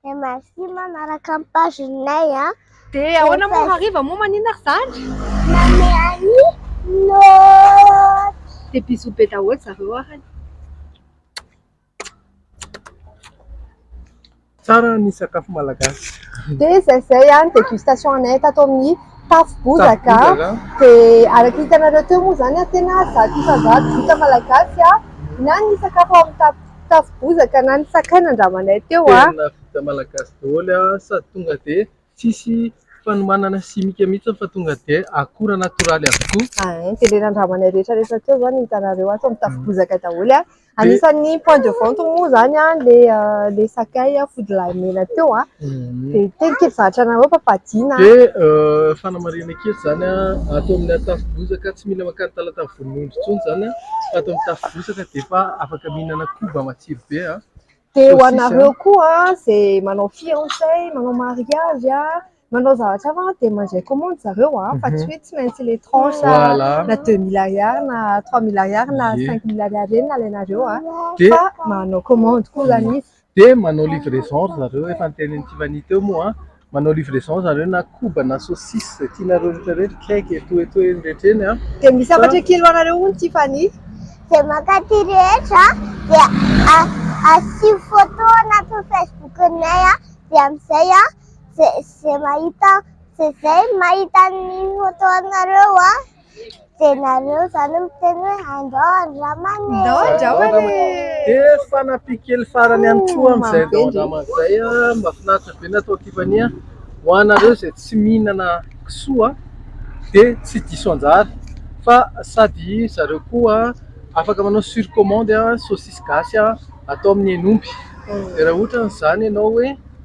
Dia merci ma naraka ny page nay a. Dia ahoana moa hariva moa manina ry zandry? Manome an'i Lôty. Dia bisous be daholo zareo ary. Tsara ny sakafo malagasy. Dia izay izay a ny dégustation anay tato amin'ny Tafo Bozaka a. Dia araka ny hitanareo teo moa izany a tena zato isa zato vita malagasy a na ny sakafo ao amin'ny Tafo Bozaka. tafo bozaka na ny sakay nandramanay teo a! Tena vita malagasy daholo a! Sady tonga dia tsisy fanomanana simika mihitsy fa tonga dia akora natoraly avokoa. Ain, dia ilay nandramanay rehetra rehetra teo izao no hitanareo ato amin'ny tafo bozaka daholo a! Anisan'ny point de vente moa izany a, ilay sakay fody lahy mena teo a! Dia tena kely zavatra nareo ampabadiana a! Dia fanamarihana kely izany a, ato amin'ny tafo bozaka tsy mila mankany Talatavy. ronono intsony izany an, fa ato amin'ny tafo bozaka dia efa afaka mihinana koba matsiro be an. Dia ho anareo koa izay manao fiançais, manao mariage, manao zavatra hafa dia mandray commande zareo an, fa tsy hoe tsy maintsy ilay tranche na deux mille ariary na trois mille ariary na cinq mille ariary ireny no alainareo an, fa manao commande koa izany izy. Dia manao livraison ry zareo, efa notenenin'i Tiffany teo moa an, manao livraison ry zareo na koba na saucisse izay tianareo rehetra rehetra, cake et tout et tout eny rehetra eny an. Dia misy hafatra kely ho anareo hono Tiffany. Izay mankaty rehetra dia asio photo anatin'ny Facebook-nay an, dia amin'izay an, izay mahita izay mahita ny photo anareo an, Dia nareo izany miteny hoe andao andramana e! Andao andramana e! Dia fanampy kely farany ihany koa amin'izay andao andramana izay, mahafinaritra be ny atao Tiffany a! Ho anareo izay tsy mihinana kisoa dia tsy diso anjara fa sady ry zareo koa afaka manao sur commande sosisy gasy atao amin'ny hen'omby, dia raha ohatra an'izany ianao hoe.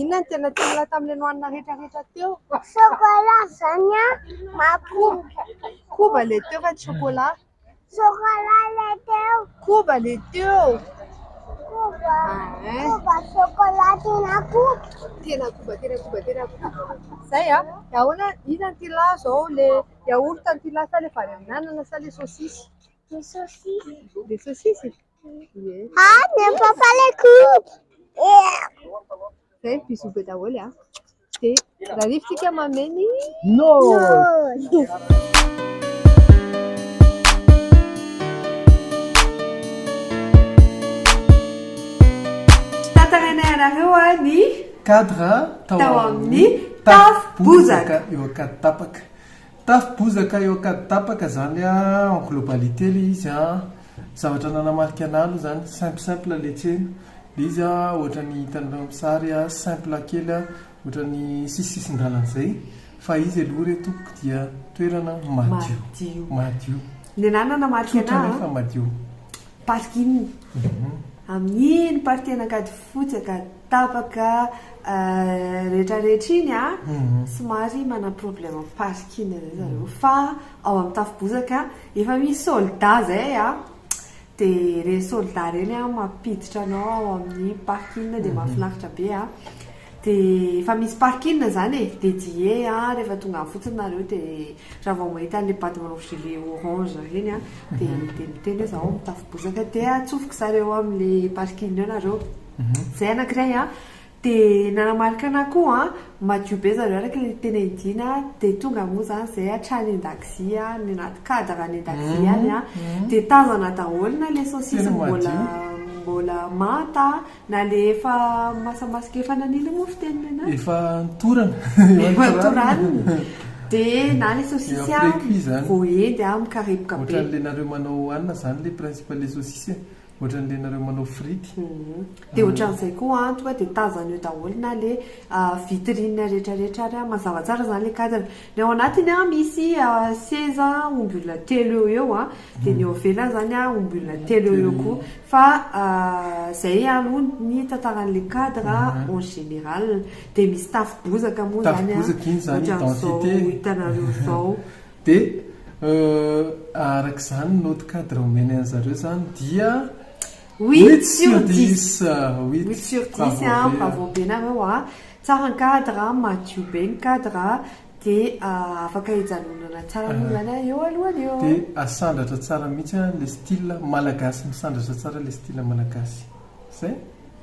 Inona no tena tianao tamin'ilay nohanina rehetra rehetra teo? Chocolat izany an! Mahakobo. Koba ilay teo fa tsy chocolat. Chocolat ilay teo. Koba ilay teo. Koba. Koba chocolat tena koba. Tena koba, tena koba, tena koba. Izay an! Dia ahoana, inona no tianao izao? Ilay yaourt no tianao sa ilay vary amin'anana sa ilay saosisy? Ilay saosisy. Ilay saosisy? Ah, ny amin'ny fampaleko! Zay bisous be daholo a. Dia raha rivotsika mameno. No. cadre tao amin'ny tafo bozaka eo Ankaditapaka. Tafo bozaka eo ankady tapaka zany a en globalité le izy a zavatra nanamarika anah aloha zany simple simple le tsena le izy a ohatrany hitanareo amin'ny sary a simple kely a ohatrany sisy sisin-dalana zay fa izy aloha re tompoko dia toerana madio madio ny anah nanamarika anah tsotra nefa madio parking amin'iny partie an'ankadifotsy ankady Tapaka retraretra iny somary manana problème am parking zay zareo fa ao am tafibozaka efa misy soldat zay a de reny soldat reny a mampiditra anao ao aminy parking de mafinaritra be a de efa misy parking zany e dedie a refa tonga any fotsiny nareo de ra vao mahita anle bado manao gilet orange reny a de miteny hoe za ao am tafibozaka de atsofoko zareo amle parking eo nareo. Zay anakiray a, de nanamarika anah koa an, madio be zareo araka le tena idiana de tonga moa zany zay hatrany andakozia any anaty cadre any andakozia any a de tazana daholo na le saucisse mbola mbola manta na le efa masamasaka efa nanila mofo teny nenah efa notorana efa notoranina de na le saucisse a voaendy a mikarepoka be ohatran'le nareo manao hanina zany le principe le saucisse e Ohatran'ny le nareo manao frity. Dia ohatran'izay koa an, tonga dia tazana eo daholo na le vitrine rehetra rehetra ary an, mazava tsara zany le cadre, ny ao anatiny an misy seza omby olona telo eo ho eo an, dia ny eo ivelany zany an omby olona telo eo ho eo koa, fa zay aloha ny tantaran'le cadre en général, dia misy tafo bozaka moa zany an, ohatran'izao hitanareo zao. Dia araka izany note cadre omeny an'i zareo izany dia huit sur dix, huit sur dix a, bravo be nareo a, tsara ny cadre a, madio be ny cadre a, dia afaka ijanonana tsara aloha izany a eo alohany eo. Dia sandratra tsara mihitsy a, ilay style malagasy misandratra tsara ilay style malagasy. Izay.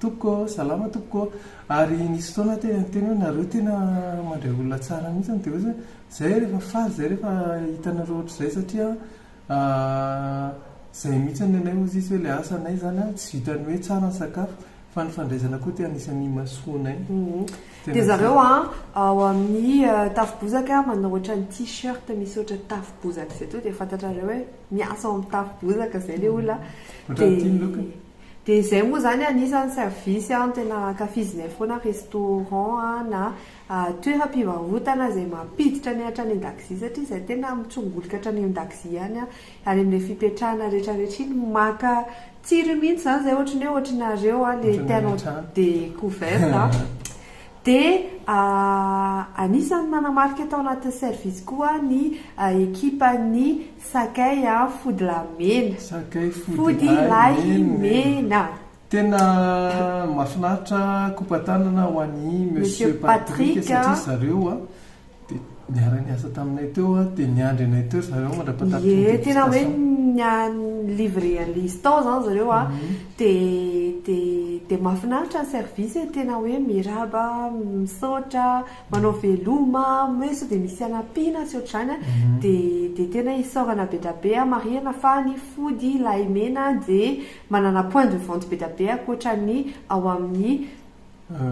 Tompoko ô, salama tompoko ô, ary nisy fotoana tena niteny hoe nareo tena mandray olona tsara mihitsy an, dia hoe zany, zay aho rehefa faly zay rehefa hitanareo ohatr'izay satria zay mihitsy ny anay hozy izy hoe ilay asa anay zany an, tsy vitan'ny hoe tsara ny sakafo fa ny fandraisana koa dia anisan'ny imasoa anay, dia Dia zany. zareo an, ao amin'ny Tafo Bozaka manao ohatran'ny t-shirt misy ohatra Tafo Bozaka izay toa dia fantatrareo hoe miasa ao amin'ny Tafo Bozaka izay ilay olona an, Ohatran'ny ity ny lokony. Dia izay moa izany anisan'ny service an tena ankafizinay foana restaurant an na toeram-pivarotana izay mampiditra ny hatrany an-dakozia satria izahay tena mitsongolika hatrany an-dakozia any an ary amin'ilay fipetrahana rehetrarehetra iny maka tsiro mihitsy izany izay ohatry ny hoe ohatry nareo an ilay tianao découverte an dia anisan'ny nanamarika tao anatin'ny service koa ny ekipan'ny Sakay a fody lahy mena. Sakay fody lahy mena. Tena mafinaritra kopatanana ho an'i Monsieur Patrick satria zareo dia niara niasa taminay teo dia niandry anay teo zareo mandrapatapitry ny dégustation. Ie tena hoe ny livrer an'ilay izy tao izany zareo dia dia dia mafinaritra ny service e, tena hoe miarahaba, misaotra. manao veloma hoe sao dia misy hanampiana tsy ohatr'izany a, dia dia tena isaorana bedabe a, marihana fa ny fody lahimena dia manana point de vente bedabe ankoatra ny ao amin'ny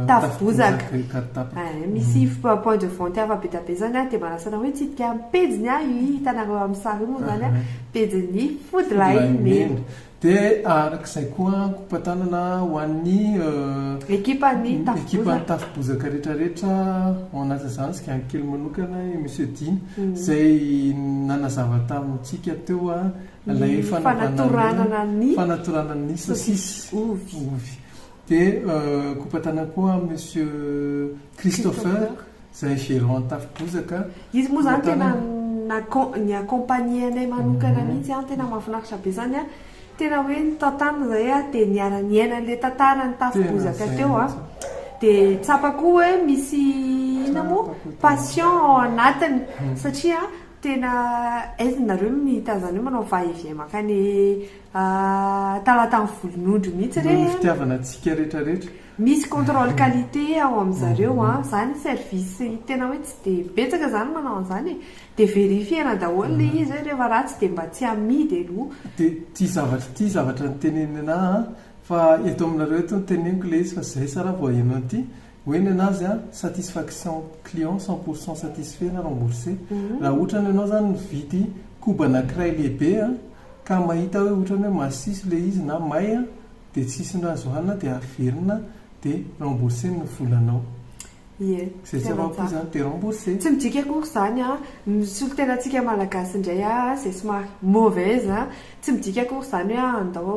tafo bozaka eh, misy mhm. point de vente hafa bedabe izany a, dia manasana hoe hitsidika ny pejiny a, io hitanareo amin'ny sary io moa izany a, pejin'ny fody lahimena. Dia araka izay koa ankohom-patanana ho an'ny Ekipan'ny Tafo ekipan'ny Bozaka. Tafo Bozaka rehetra rehetra, ao anatin'izany Zigany kely manokana, i Monsieur Dina, izay nanazava tamintsika teo a, ilay Ny fanaovana ny fanatoranana ny fanatoranana ny sosisy sosisy ovy. ovy. Dia ankohom-patanana koa Monsieur Christopher, Christopher. Zay gerant tafo bozaka. Izy moa zany tena ni accompagner anay manokana mihitsy an, tena mahafinaritra be zany an, tena hoe nitantana zay an, de niara niaina anle tantaran'ny tafo bozaka teo an, de tsapako hoe misy inona moa passion ao anatiny satria an tena aizy nareo no nihita anzany hoe manao va et vient mankany talatan'ny volonondry mihitsy re an, noho ny fitiavana antsika retraretra, Misy contrôle qualité ao amin zareo a, zany service tena hoe tsy de betsaka zany manao anzany e, de verifier-na daholo le izy hoe refa ratsy de mba tsy amidy aloha. De ty zavatra ty zavatra niteneniny anah a, fa eto aminareo eto no teneniko le izy fa zay sa ra vao enao ty, hoe ny anazy a, satisfaction client cent pour cent satisfait na remboursé, raha otrany enao zany mividy koba anakiray lehibe a, ka mahita hoe otrany hoe masiso le izy na may a, dia tsy hisy ny azo hanina dia averina dia rembourser ny volanao. Ie, Izay tsy tena afa-po izany dia rembourser. Tsy midika akory izany an, ny solontenantsika Malagasy indray an, izay somary mauvaise an, tsy midika akory izany hoe andao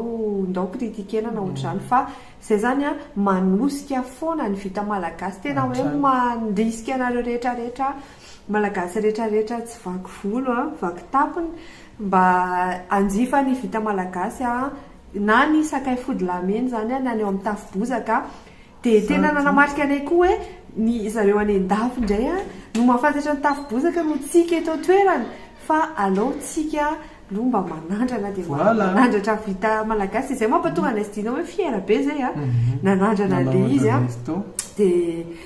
ndao critiquena na ohatr'izany fa izay izany an, manosika foana ny vita Malagasy, tena hoe Hatrany. mandrisika anareo rehetrarehetra Malagasy rehetrarehetra tsy vaky volo an, vaky tampony, mba hanjifa ny vita Malagasy an, na ny sakay fody lamena izany na ny ao amin'ny tafo bozaka dia tena nanamarika anay koa hoe ny zareo any an-dafy indray no mahafantatra ny tafo bozaka noho tsika eto an-toerana fa alou tsika aloha mba manandrana dia manandratra vita malagasy dia izay mampatonga anay sidina hoe fiera be izay nanandrana ilay izy dia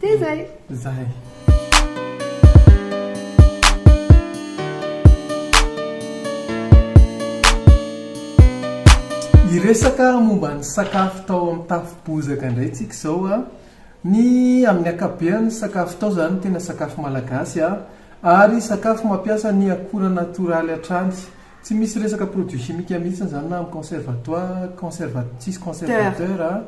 Dia izay! Izay! Hiresaka momba ny sakafo tao amin'ny tafo bozaka indray isika izao an! Ny amin'ny ankapobeny ny sakafo tao izany tena sakafo malagasy an! Ary sakafo mampiasa ny akora natoraly hatrany. Tsy misy resaka produits chimiques mihitsy izany na amin'ny conservatoire, conserva, tsisy conservateur an!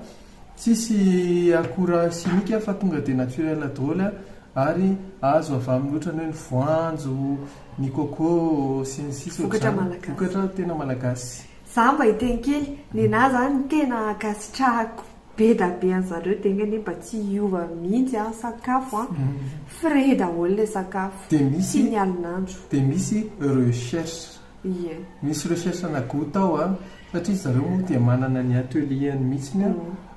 Tsisy akora simika fa tonga dia naturel daholo ary azo avy amin'ny ohatrany hoe ny voanjo, ny coco sy ny sisa Vokatra malagasy. Vokatra tena malagasy. Za mba hiteny kely, nenaha zany ny tena ankasitrahako be da be anzareo de enga anie mba tsy hiova mihitsy an sakafo an, frais daholo le sakafo, Dia misy, sy ny alon'andro. dia misy recherche. Ie. Misy recherche na goût tao a, satria zareo moa dia manana ny atelier-ny mihitsiny a,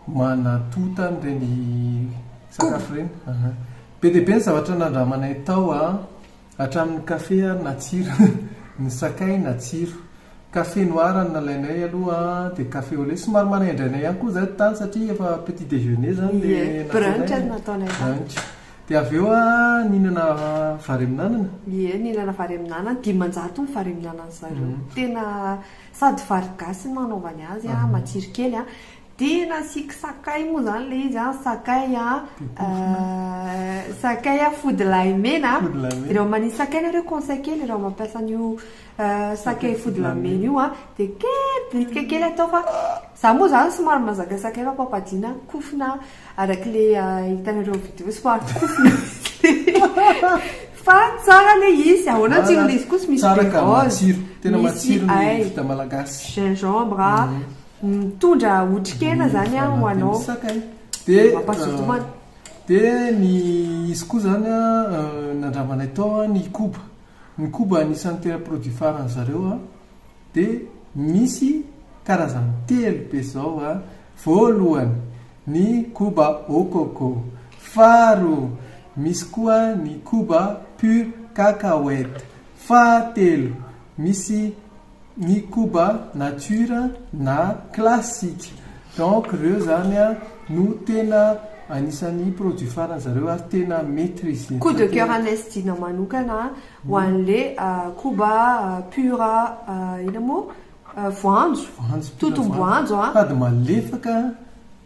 manatonta an'ireny sakafo ireny, aha. Be dia be ny zavatra nandramanay tao a, hatramin'ny café ary natsiro, ny sakay natsiro. Café noir no nalainay aloha an, dia café au lait, somary manaindraina ihany koa izahay tany satria efa petit déjeuner izany ilay nataonay, brunch no nataonay tany. Dia avy eo nihinana varemin'anana? Ie, nihinana varemin'anana, dimanjato ny varemin'anan'ny zareo. Tena sady vary gasy no nanaovany azy, matsiro kely. Dia nasiako sakay moa izany ilay izy, sakay sakay fody lahy mena. Raha manisy sakay ianareo, conseil kely, raha mampiasa an'io sakay fody lahy mena io dia kely, bitika kely atao fa izaho moa izany somary mahazaka sakay fa papadina, kofona. Araka le hitanareo vidéo somary kofy fa tsara le izy ahoana ny tsirony izy koa sy misy tsara ka matsiro tena matsiro ny vita malagasy gingembre mhm. mitondra otrikena mhm. zany an ho anao de mampazotomana euh, de ny izy koa zany a euh, nandramanay tao ny koba ny koba anisan'ny tena produit faran'ny zareo a Dia misy karazany telo be izao a, voalohany ny koba au coco, faharoa misy koa ny koba pure cacahuète, fahatelo misy ny koba nature na classique. Donc ireo izany a no tena anisan'ny produits faran'izareo ary tena maitrisena. Coup de coeur an'Institut-nao manokana. Ho anle koba pure inona moa? voanjo, totom-boanjo an! Sady malefaka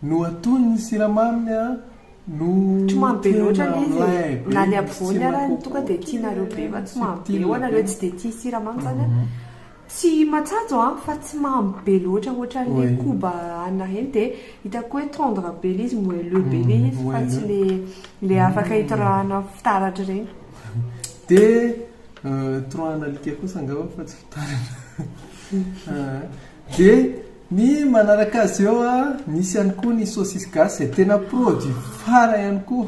no atono ny siramaminy an! no Tsy mamy be loatra tena ilay izy e. mlay be Na ny misy apovoany tsirony ary kokoa tonga dia tianareo be fa tsy mamy be. Ho anareo tsy dia tia siramamy izany an! Tsy matsajo an, fa tsy mamy be loatra ohatran'le koba anah iny de hitako hoe tendre be le izy, moelleux be le izy fa tsy le le afaka hitorahana fitaratra ireny. De torahana alika kosa angamba fa tsy fitaratra. De ny manaraka azy eo an, misy ihany koa ny saucisse gasy izay tena produit phare ihany koa.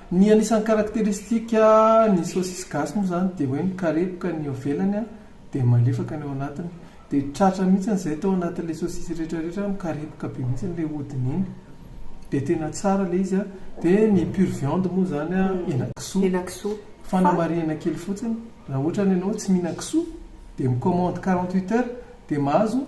Ny anisan'ny karakteristika ny saosisy gasy moa izany dia hoe mikarepoka ny eo ivelany dia malefaka ny ao anatiny. Dia tratra mihitsy izay tao anatin'ilay saosisy rehetra rehetra mikarepoka be mihitsy ilay hodiny iny. Dia tena tsara ilay izy. Dia ny pure viande moa izany henakisoa. Henakisoa. Fanamarihana kely fotsiny, raha ohatra ny ianao tsy mihinan-kisoa dia mi-commande quarante huit heures dia mahazo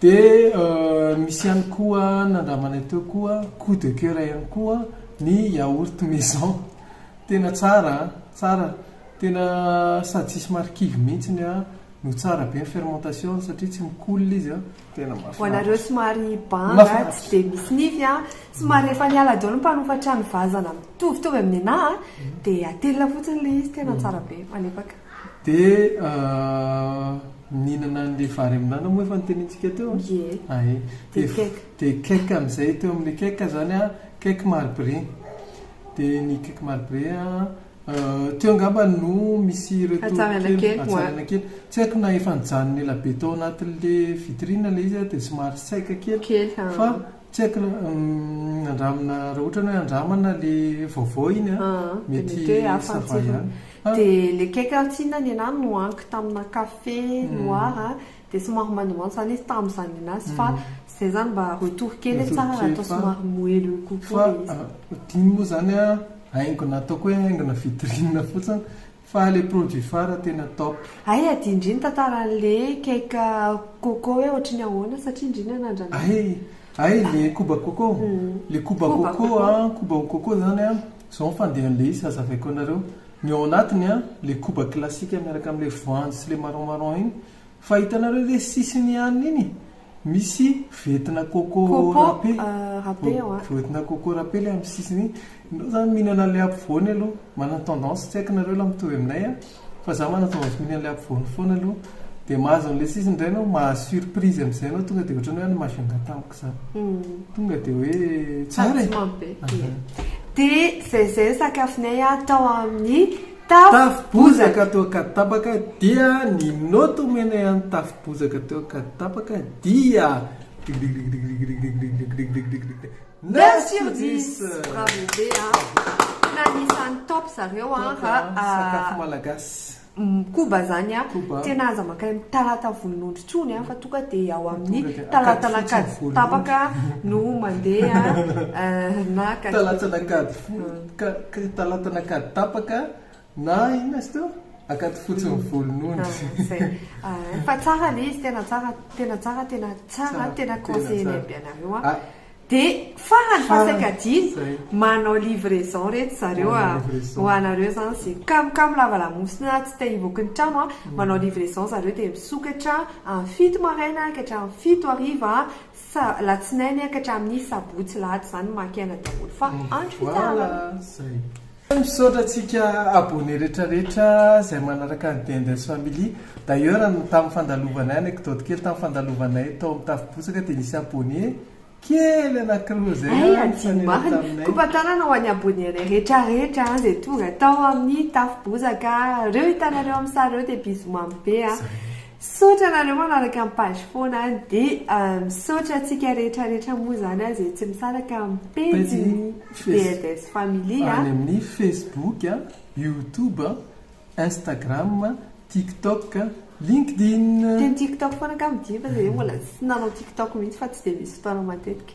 Dia misy ihany koa nandramanay teo koa coup de coeur ihany koa ny yaourt maison. Tena tsara an! Tsara, tena sady tsisy marikivy mihitsy no tsara be ny fermentation satria tsy mikolona izy an! Tena mahafinaritra. Ho anareo somary banga, tsy dia misy nify an! Somary efa niala daholo ny mpanofa trano vazana mitovitovy amin'ny anah an! Dia atelina fotsiny ilay izy, tena tsara be, malefaka. Dia mihinana an'ilay vary amin'anana moa efa notenenintsika teo an? Ie. Ah ie. Dia cake. Dia cake amin'izay teo amin'ilay cake izany an, cake marbré. Dia ny cake marbré an, teo angamba no misy ireto kely, hatsaraina kely, hatsaraina kely. Tsy haiko na efa nijanona ela be tao anatin'ilay vitrine ilay izy an, dia somary saika kely. Kely, ah. Fa. Tsy haiko na andramina raha ohatra ny hoe andramana le vaovao iny an, mety ça va ihany. Dia le cake aho tsinona nenah nohaniko tamina café noir an, dia somary mandomando izany izy tamin'izany nenazy fa izay izany mba retour kely hoe tsara raha atao somary moelleux kokoa le izy. Fa dino moa izany an, haingona ataoko hoe haingona vitrine fotsiny, Fa le produit fara tena top. Hay adino ndry ny tantaran'le cake coco hoe ohatry ny ahoana satria ndry nanandrana azy. Hay hay le koba coco, le koba coco an, koba au coco zany an, zao ny fandehan'le izy hazavaiko anareo, ny ao anatiny an le koba classique miaraka amle voanjo sy le marron marron iny Fa hitanareo ve sisiny ihany iny misy vetina coco rape, vetina coco rape ilay amin'ny sisiny iny, enao zany mihinana ilay ampovoany aloha, manana tendance tsy haiko nareo la mitovy aminay an, fa za manana tendance mihinana ilay ampovoany foana aloha, dia mahazo an'ilay sisiny indray enao, mahazo surprise amin'izay enao tonga dia ohatran'ny hoe any Majunga tamiko izany, tonga dia hoe tsara e. Dia izay izay ny sakafonay tao amin'ny. Tafo bozaka toa ka tapaka dia ny note omenay an'ny tafo bozaka toa ka tapaka dia Digdigdigdig Neuf sur dix! Bravo be a! Tena anisan'ny top zareo a! Top a! Sakafo malagasy. Koba zany a! Koba. Tena aza mankany amin'ny talata volonondry intsony a! Fa tonga dia ao amin'ny Tonga dia talata Ankadifotsy ny an'Ankaditapaka no mandeha a! Na Ankadifotsy. Talata an'Ankadifotsy. Ka talatana ka tapaka na inona izy teo? Akaty fotsy ny volon'ondry. Fa tsara le izy, tena tsara, tena tsara, tena tsara, tena conseiller-nay be anareo an. Dia farany fa saika adino, manao livraison ry zareo ho anareo izany izay kamokamo lava lamosina tsy te hivoaka ny trano an, manao livraison ry zareo dia misokatra amin'ny fito maraina ka hatramin'ny fito hariva. Sa latsinainy ka hatramin'ny sabotsy lahady zany maka aina daholo fa andro fitsaharana. Misaotra antsika abonné rehetra rehetra zay manaraka ny Dendez family, d'ailleurs ny tamin'ny fandalovanay anecdote kely tamin'ny fandalovanay tao amin'ny tafo bozaka dia nisy abonné kely anakiroa zay Hay hadino marina, kopa tanana ho an'ny abonné anay rehetra rehetra zay tonga tao amin'ny tafo bozaka, reo hitanareo amin'ny sary reo dia bisous mamy be a. Misaotra anareo manaraka ny page foana an! Dia misaotra antsika rehetra rehetra moa izany an izay tsy misaraka amin'ny pejin'ny DLDS Family an! Any amin'ny Facebook, YouTube, Instagram, TikTok, LinkedIn. Dia ny TikTok foana angaha no diva, dia hoe mbola tsy nanao TikTok mihitsy fa tsy dia misy fotoana matetika.